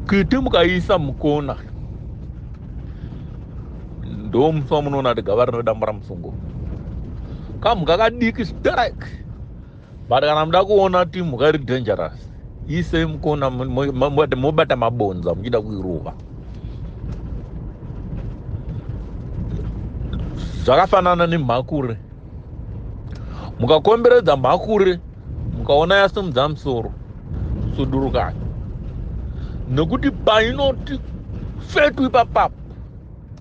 kiti mukaisa mukona ndo musi wamunoona kuti gava rino dambura musungo kamhuka kadiki strike but kana muda kuona kuti mhuka iri dangerous isei mukona mobata mabonza muchida kuirova zvakafanana nemhakure mukakomberedza mhakure mukaona yasimudza musoro sudurukani nekuti painoti fetu ipapapo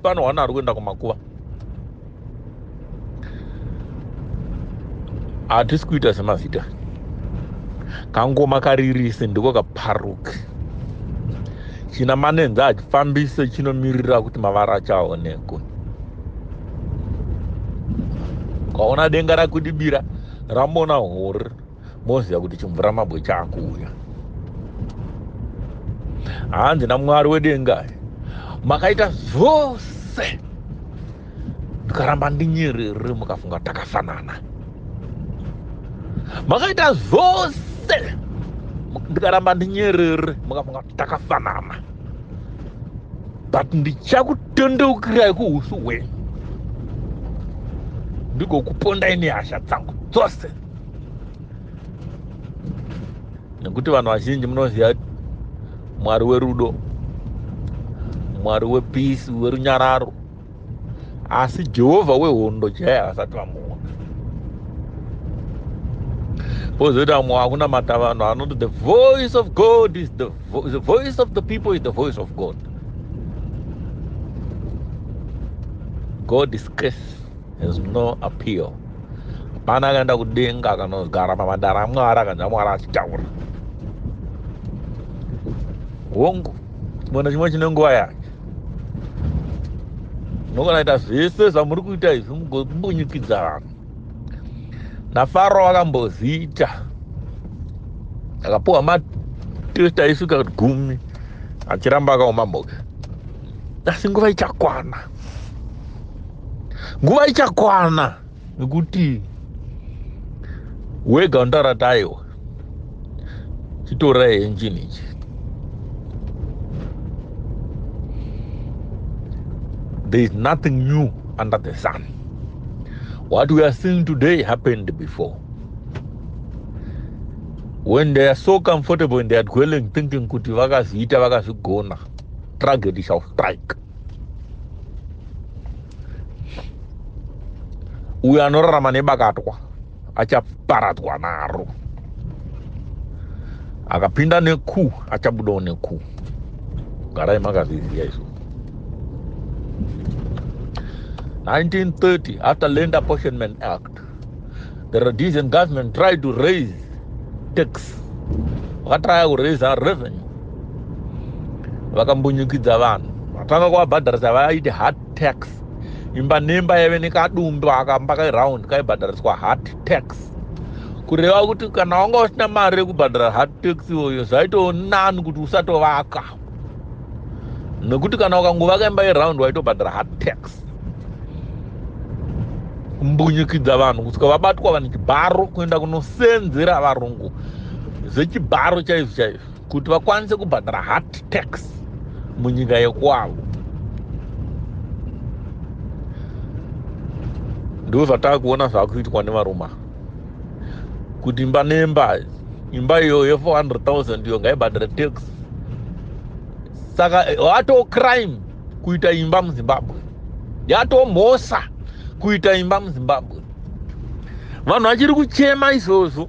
panohwana ari kuenda kumakuva hatisi kuita semazita kangoma karirise ndiko kaparuke china manenza hachifambise chinomirira kuti mavara achaonekwe kwaona denga rakudibira ramona hori moziva kuti chimvura mabwe chakuuya hanzi namwari wedenga makaita zvose ndikaramba ndinyerere mukafunga takafanana makaita zvose ndikaramba ndinyerere mukafunga takafanana but ndichakutendeukirai kuusu hwenyu ndigokupondai nehasha dzangu dzose nekuti vanhu vazhinji munoziva mwari werudo mwari wepisi werunyararo asi jehovha wehondo chaiye havasati vamuona pozoita vamwe vakunamata vanhu vanoti the voice of god is the, vo the voice of the people is the voice of god god is case has no appeal hapana akaenda kudenga akanogara pamadara amwari akanzva mwari achitaura hongu mona chimwe chine nguva yake ndogona ita zvese zvamuri kuita izvi mugobunyikidza vanhu nafaro akamboziita akapuwa matest aisvika gumi achiramba akaoma mhoke asi nguva ichakwana nguva ichakwana nekuti wega unotara taiwa chitorai engine ichi there is nothing new under the sun what we are seeing today happened before when they are so comfortable in their dwelling thinking kuti vakazviita vakazvigona tragedy shall strike uyo anorarama nebakatwa achaparadzwa naro akapinda neku achabudawo neku garai makazviziva izvo 1930 after land apportionment act the rhodesian government tried to raise tax vakatraya kuraise revenue vakambunyikidza vanhu vatanga kuvabhadharisa vaiti heart tax imba nemba yave nekadumbu akamba kairound kaibhadhariswa heart tax kureva kuti kana wanga usina mari yekubhadhara heart tax iyoyo zvaitoo nani kuti usatovaka nekuti kana ukangovaka imba yeround waitobhadhara hard tax kumbunyikidza vanhu kusvika vabatwa vane chibharo kuenda kunosenzera varungu zvechibharo chaizvo chaizvo kuti vakwanise kubhadhara hard tax munyika yekwavo ndozvatakuona zvakuitwa nevaruma kuti imba nemba imba iyo ye 400000 iyo ngaibhadhare tax saka eh, wato crime kuita imba muzimbabwe yatomhosa kuita imba muzimbabwe vanhu vachiri kuchema izvozvo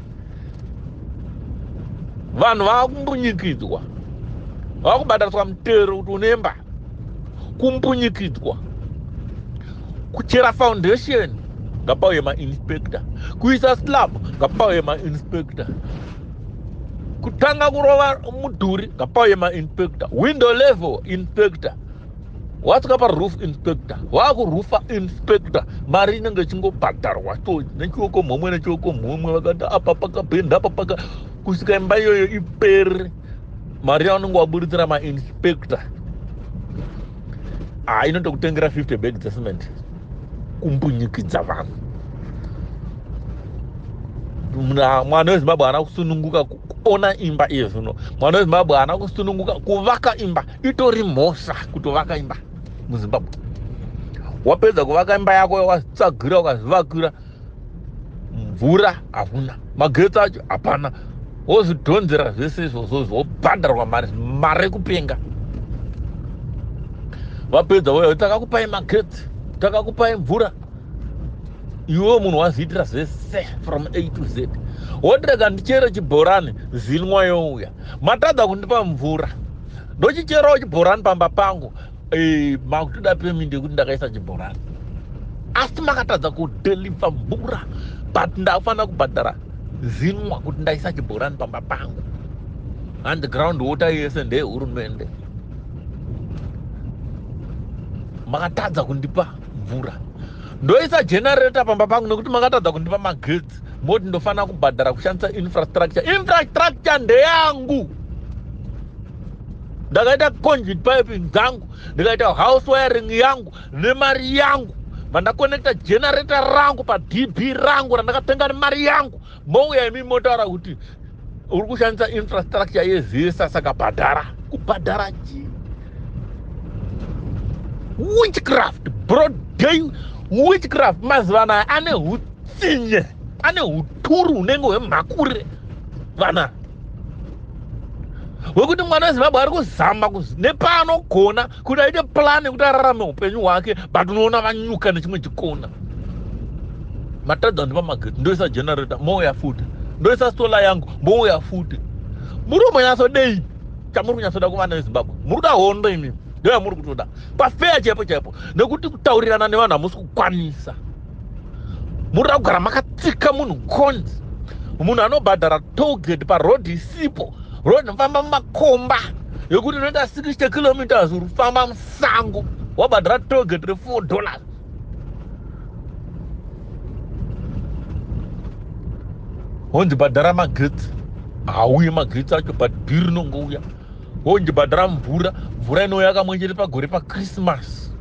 vanhu vakumbunyikidzwa vakubhadhariswa mutero kuti unemba kumbunyikidzwa kuchera foundation ngapauye mainspector kuisa slab ngapauye mainspector kutanga kurova mudhuri ngapauye mainspector window level inspector watsika paroof inspector waakurufa inspector mari inenge ichingobhadharwa to nechioko mhomwe nechioko mhomwe vakati apa pakapenda apa paka kusvika imba iyoyo ipere mari yaunenge waburitsira mainspector haa ah, inotokutengera 50 bag dzecement kumbunyikidza vanhu mwana wezimbabwe haana kusununguka kuona imba iye zvino mwana wezimbabwe haana kusununguka kuvaka imba itori mhosva kutovaka imba muzimbabwe wapedza kuvaka imba yako yawatsagira ukazvivakira mvura hakuna magetsi acho hapana wozvidhonzera zvese izvozvo zvobhadharwa mari mari yekupenga vapedza voya takakupai magetsi takakupai mvura iwewo munhu waziitira zvese from a to z wotirega ndichere chibhorani zinwa youya matadza kundipa mvura ndochicherawo chibhorani pamba pangu eh, makutoda pemindi yekuti ndakaisa chibhorani asi makatadza kudeliva mvura but ndakufanira kubhadhara zinwa kuti ndaisa chibhorani pamba pangu and ground water yese ndeyehurumende makatadza kundipa mvura ndoisa generator pamba pangu nekuti makatadza kundipa magetsi tax moti ndofanira kubhadhara kushandisa infrastructure infrastructure ndeyangu ndakaita conduit piping dzangu ndikaita house wiring yangu nemari yangu vandakonekta generator rangu padb rangu randakatenga nemari yangu mouya imi motaura kuti uri kushandisa infrastructure yezesa saka bhadhara kubhadhara chii witchcraft broad day witchcraft mazuva anaya ane utsinye ane uturu hunenge hwemhakure vana wekuti mwana wezimbabwe ari kuzama nepaanogona kuti aite plan yekuti ararame upenyu hwake but unoona vanyuka nechimwe chikona matadza ndipa magate ndoisa generator mouya futi ndoisa solar yangu mouya futi muri umonyatsodei chamuri kunyatsoda kuvana vezimbabwe muri kuda hondo imi ndoyamuri kutoda pafeya chaipo chaipo nekuti kutaurirana nevanhu hamusi kukwanisa munoda kugara makatsika munhu conzi munhu anobhadhara tolgate paroad isipo road nofamba mumakomba yokuti inoita 60 kilometers uri kufamba musango wabhadhara tolgate refour dollars honzi bhadhara magetsi hauye magetsi acho but bhiri rinongouya honzi bhadhara mvura mvura inouya kamwe chete pagore pachristmas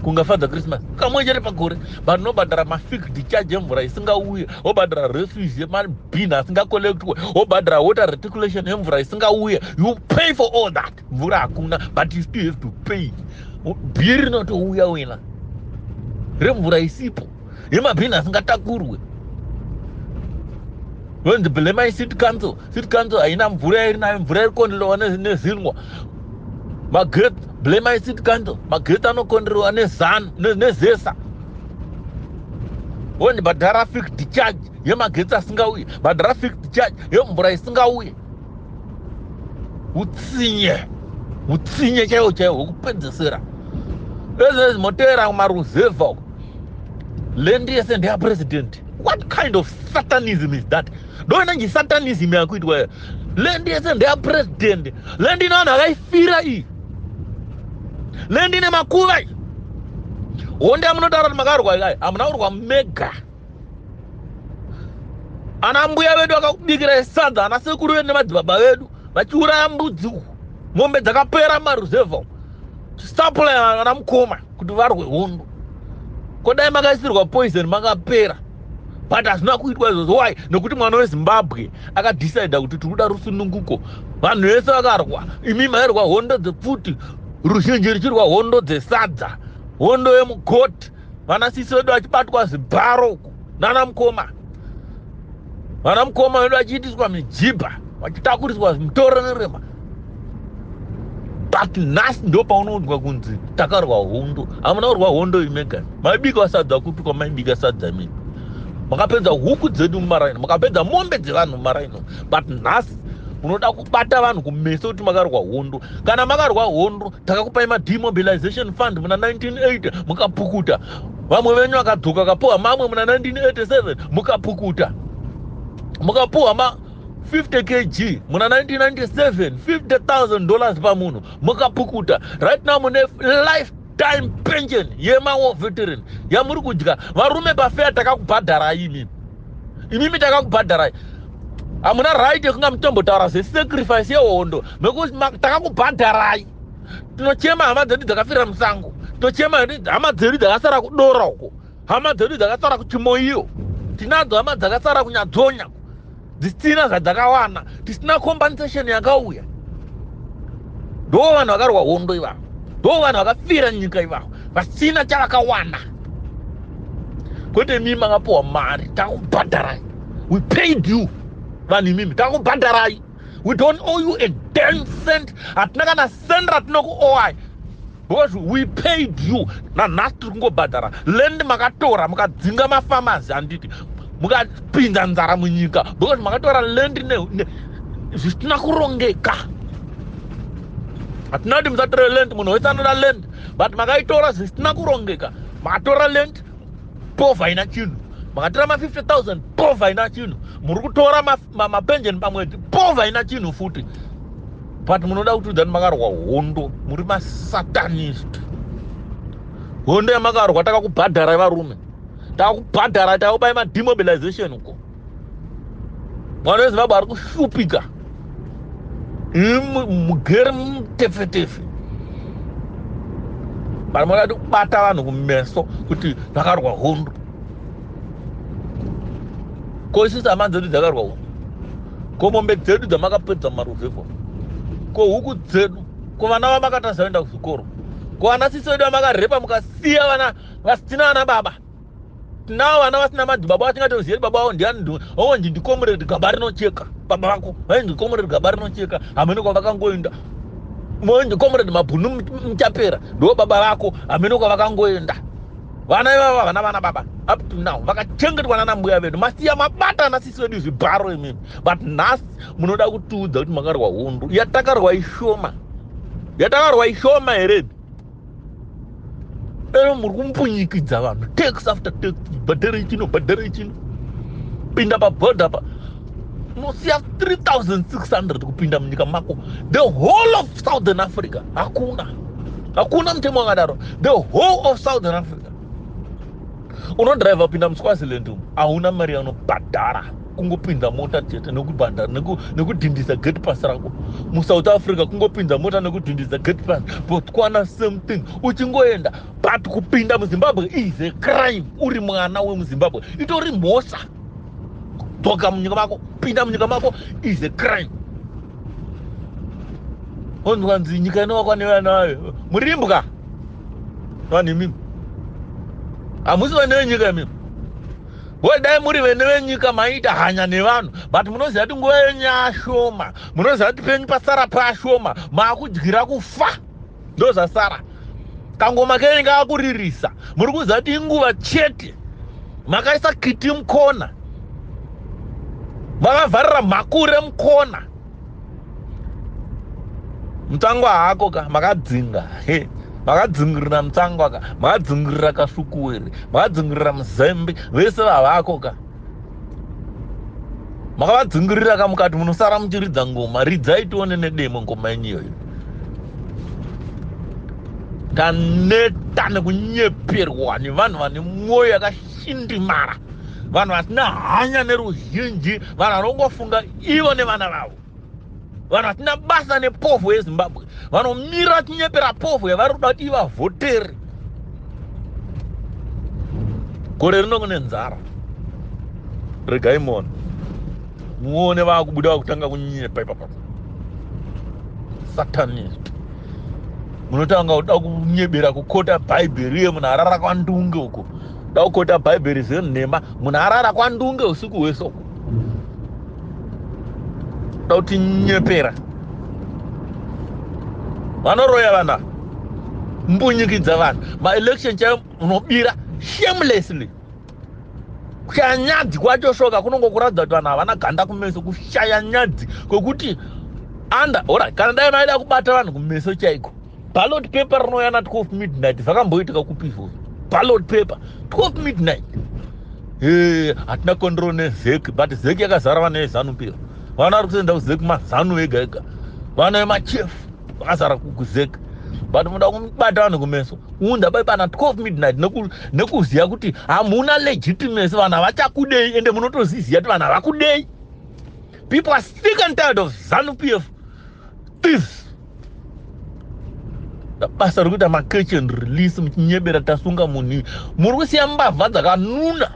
kungafadza christmas kamwe chete pagore but nobhadhara mafixed charge emvura isingauye wobhadhara refuse yemabin asingacollectwe wobhadhara water reticulation emvura isingauye you pay for all that mvura hakuna but you still have to pay bhiri rinotouya wena remvura isipo yemabhini asingatakurwe yonzi blemai city council city council haina mvura yairi nayo mvura iri kuonderewa nezinwa magate blemai city council magate anokonderewa nezanu nezesa wonzi bhadhara fixed charge yemagetsi asingauye bhadhara fixed charge yemvura isingauye utsinye utsinye chaiwo chaiwo wekupedzesera ezvezimotevera kumaruzevha uko land yese ndeya president what kind of satanism is that ndoenanji satanism yakuitwa land yese ndeya president land ine vanhu akaifira iyi land ine makuva iyi honde amunotaura kuti makarwa ikai hamuna kurwa mega ana mbuya vedu vakakubikirai sadza ana sekuru vedu nemadzibaba vedu vachiuraya mbudzi uku mombe dzakapera maruzevha stapula ana mukoma kuti varwe hondo ko dai makaisirwa poison makapera but hazvina kuitwa izvozvo why nekuti mwana wezimbabwe akadecida kuti tiri kuda rusununguko vanhu vese vakarwa imi mairwa hondo dzepfuti ruzhinji ruchirwa hondo dzesadza hondo yemukoti vana sisi vedu vachibatwa zvibharo uku nana mukoma vana mukoma vedu vachiitiswa mijibha vachitakuriswa mutorerema but nhasi ndo paunoudzwa kunzi takarwa hondo hamuna kurwa hondo imegani maibika sadza kutukwa maibika sadza mii makapedza huku dzedu mumaraini makapedza mombe dzevanhu mumaraini but nhasi unoda kubata vanhu kumeso kuti makarwa hondo kana makarwa hondo takakupai mademobilization fund muna 1980 mukapukuta vamwe venyu vakadzoka akapuwa mamwe muna 1987 mukapukuta mukapuwa ma 50 kg muna 1997 50000 dollars pamunhu mukapukuta right now mune life time pension yemawo veteran yamuri kudya varume pafeya takakubhadharai imimi imimi takakubhadharai hamuna right yekunga mutombotaura zvesacrifice yehondo mekuti takakubhadharai tinochema hama dzedu dzakafira musango tinochema hama dzedu dzakasara kudora uko hama dzedu dzakasara kuchimoiyo tinadzo hama dzakasara kunyadzonya dzisina zvadzakawana tisina compensation yakauya ndo vanhu vakarwa hondo ivavo ndo vanhu vakafira nyika ivavo vasina chavakawana kwete mimi makapiwa mari takubhadharai we paid you vanhu imimi takubhadharai we don't owe you a damn cent hatina kana cent ratinokuowai because we paid you nanhasi tiri kungobhadhara land makatora mukadzinga mafamazi handiti mukapinda nzara munyika because makatora land zvisina kurongeka hatina kuti musatore land munhu wese anoda land but makaitora zvisina kurongeka makatora land povha ina chinhu makatora ma 50 000 povha ina chinhu muri kutora mapension pamwedzi po vaina chinhu futi but munoda kutiudza kuti makarwa hondo muri masatanist hondo yamakarwa takakubhadharai varume takakubhadharai takakubai mademobilization uko mwana wezimbabwe ari kushupika mugere mutefetefe vanhu vanoda kuti kubata vanhu kumeso kuti vakarwa hondo ko isusu hama dzedu dzakarwa uko ko mombe dzedu dzamakapedza mumaruvhevho ko huku dzedu ko vana vamakatasa vaenda kuzvikoro ko vana sisi vedu vamakarepa mukasiya vana vasina vana baba tinawo vana vasina madzi baba vatingatoziyei baba vavo ndiani oonji ndikomureri gaba rinocheka baba vako vainzi ndikomureri gaba rinocheka hamene kwavakangoenda moenzi komureri mabhunu muchapera ndo baba vako hamene kwavakangoenda vana ivava havana vana baba up to now vakachengetwa nana mbuya vedu masiya mabata ana sisi vedu zvibharo imimi but nhasi munoda kutiudza kuti makarwa hundu yatakarwa ishoma yatakarwa ishoma here ero muri kumbunyikidza vanhu tax after tax bhadhara ichino bhadhara ichino pinda paboda pa unosiya 3600 kupinda munyika mako the whole of southern africa hakuna hakuna mutemo wakadaro the whole of southern africa unodrive upinda muswaziland umu hauna mari yaunobhadhara kungopinza mota chete nekubhanda nekudhindisa gate pass rako musouth africa kungopinza mota nekudhindisa gate pass botswana same thing uchingoenda but kupinda muzimbabwe is a crime uri mwana wemuzimbabwe itori mhosva dzoka munyika mako pinda munyika mako is a crime onzwa nzi nyika inovakwa nevana vayo murimbwa vanhu imimi hamusi vane venyika imimi we dai muri vene venyika maiita hanya nevanhu but munoziva kuti nguva yenyu yashoma munoziva kuti penyu pasara pashoma maakudyira kufa ndozvasara kangoma kenyu ngaakuririsa muri kuziva kuti inguva chete makaisa kiti mukona makavharira makure mukona mutangwa hako ka makadzinga he makadzingirira mutangwa ka makadzingirira kasukuwere makadzingirira muzembe vese vavako ka makavadzingirira ka mukati munosara muchiridza ngoma ridzai tione nedemo ngoma yenyu iyoyo taneta nekunyeperwa nevanhu vane mwoyo yakashindimara vanhu vasina hanya neruzhinji vanhu vanongofunga ivo nevana vavo vanhu vasina basa nepovo yezimbabwe vanomira vachinyepera povo yavari kuda kuti ivavhotere gore rino kune nzara regai muone muone vakubuda vakutanga kunyepa ipapa satanist munotanga kuda kunyebera kukota bhaibheri uye munhu arara kwandunge uko da kukota bhaibheri zvenhema munhu arara kwandunge usiku hwese uko da kuti nyepera vanoroya vana mbunyikidza vanhu maelection chayo unobira shamelessly kushaya nyadzi kwacho shoka kunongo kuratidza kuti vanhu havana ganda kumeso kushaya nyadzi kwekuti anda ora kana dai maida kubata vanhu kumeso chaiko ballot paper rinouya na 12 midnight zvakamboitika kupi izvozvo ballot paper 12 midnight eh, hatina control nezeki but zeki yakazara vana vezanu pira vana vari kutoenda kuzeki mazanu vega ega vana vemachief vakazara kuzeki but muda kumubata vanhu kumeso unda bai pana 12 midnight nekuziva kuti hamuna legitimacy vanhu havachakudei ende munotoziziva kuti vanhu havakudei people are sick and tired of zanu pf thieves basa rekuita macatch and release muchinyebera tasunga munhu muri kusiya mbavha dzakanuna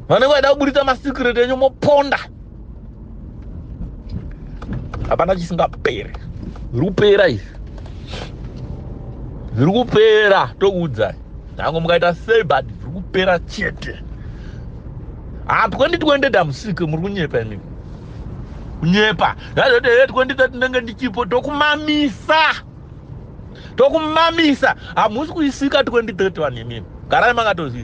vanenge vaida kuburitsa masecret enyu moponda hapana chisingaperi zviri kupera izvi zviri kupera tokuudzai nyange mukaita sei but zviri kupera chete ha 2020 damusike muri kunyepa imimi kunyepa yazoti hee 2030 ndenge ndichipo tokumamisa tokumamisa hamusi kuisika 2030 vanhu imimi garai makatozii